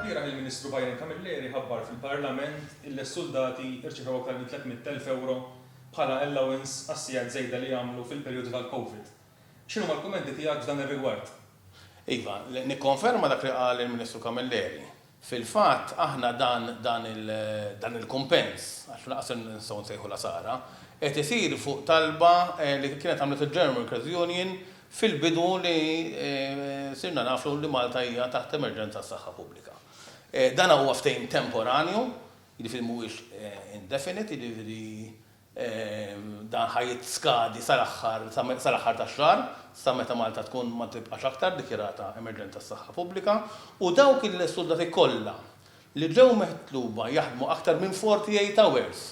Ilbieraħ il-Ministru Byron Camilleri ħabbar fil-Parlament illi s-suldati rċivew aktar minn 300 elf ewro bħala allowance għas-sigħat żejda li għamlu fil-perjodu tal-Covid. X'inhuma l-kummenti tiegħek f'dan ir-rigward? Iva, nikkonferma dak li qal il-Ministru Camilleri. Fil-fatt, aħna dan dan il dan il-kumpens, għax lanqas se nistgħu nsejħu l-għasara, qed isir fuq talba li kienet għamlet il-German Workers Union fil-bidu li sirna nafu li Malta hija taħt emerġenza għas-saħħa pubblika. Dan huwa ftehim temporanju, jiġifieri mhuwiex indefinite, jiġifieri, Dan ħa jiskadi sal-aħħar sal-aħħar tax-xahar, sa meta Malta tkun ma tibqax aktar dikjarata emerġenza tas-saħħa pubblika, u dawk il-suldati kollha li ġew mitluba jaħdmu aktar minn 48 hours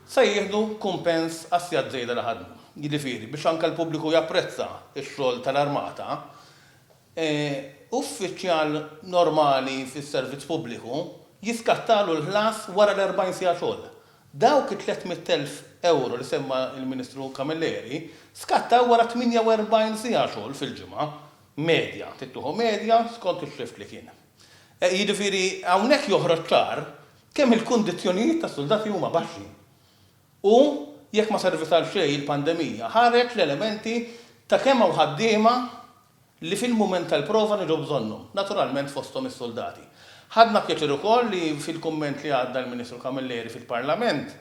se jieħdu kumpens għas-sigħat żejda li ħadmu. Jiġifieri, biex anke l-pubbliku japprezza x-xogħol tal-Armata, uffiċjal normali fis-servizz pubbliku jiskattalu l-ħlas wara l-40 siegħa xogħol. Dawk it-tliet mitt elf ewro li semma l-Ministru Camilleri skattaw wara 48 siegħa xogħol fil-ġimgħa medja, trid tieħu medja skont ix-shift li kien. Jiġifieri hawnhekk joħroġ ċar kemm il-kundizzjonijiet tas-suldati huma baxxi. U jekk ma servit għal xejn il-pandemija, ħareġ l-elementi ta' kemm hawn ħaddiema li fil-mument tal-prova niġu bżonnhom, naturalment fosthom is-suldati. Ħadna pjaċir ukoll li fil-kumment li għadda l-Ministru Camilleri fil-Parlament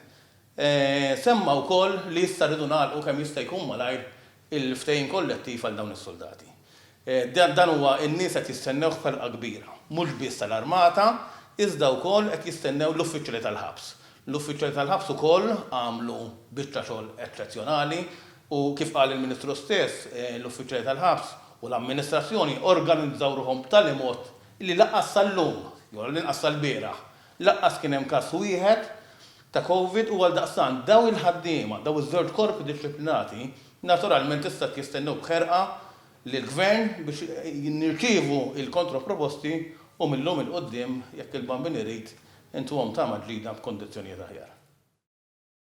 semma wkoll li issa rridu nagħlqu kemm jista' jkun malajr il-ftehim kollettiv għal dawn is-suldati. Dan huwa n-nies qed jistennewh b'ħerqa kbira, mhux biss tal-Armata iżda wkoll qed jistennew l-uffiċjali tal-ħabs. L-uffiċjali tal-ħabs ukoll għamlu biċċa xogħol eċċezzjonali U kif qal il-Ministru stess, l-uffiċjali tal-ħabs u l-amministrazzjoni organizzaw ruħhom b'tali mod li lanqas sal-lum, jew għall-inqas sal-bieraħ, lanqas kien hemm każ wieħed ta' Covid u għaldaqstant dawn il-ħaddiema, dawn iż-żewġ korpi dixxiplinati, naturalment issa qed jistennew b'ħerqa lill-Gvern biex nirċievu l-kontroproposti u mil-lum 'il quddiem, jekk il-Bambin irid, intuhom tama ġdida b'kundizzjonijiet aħjar.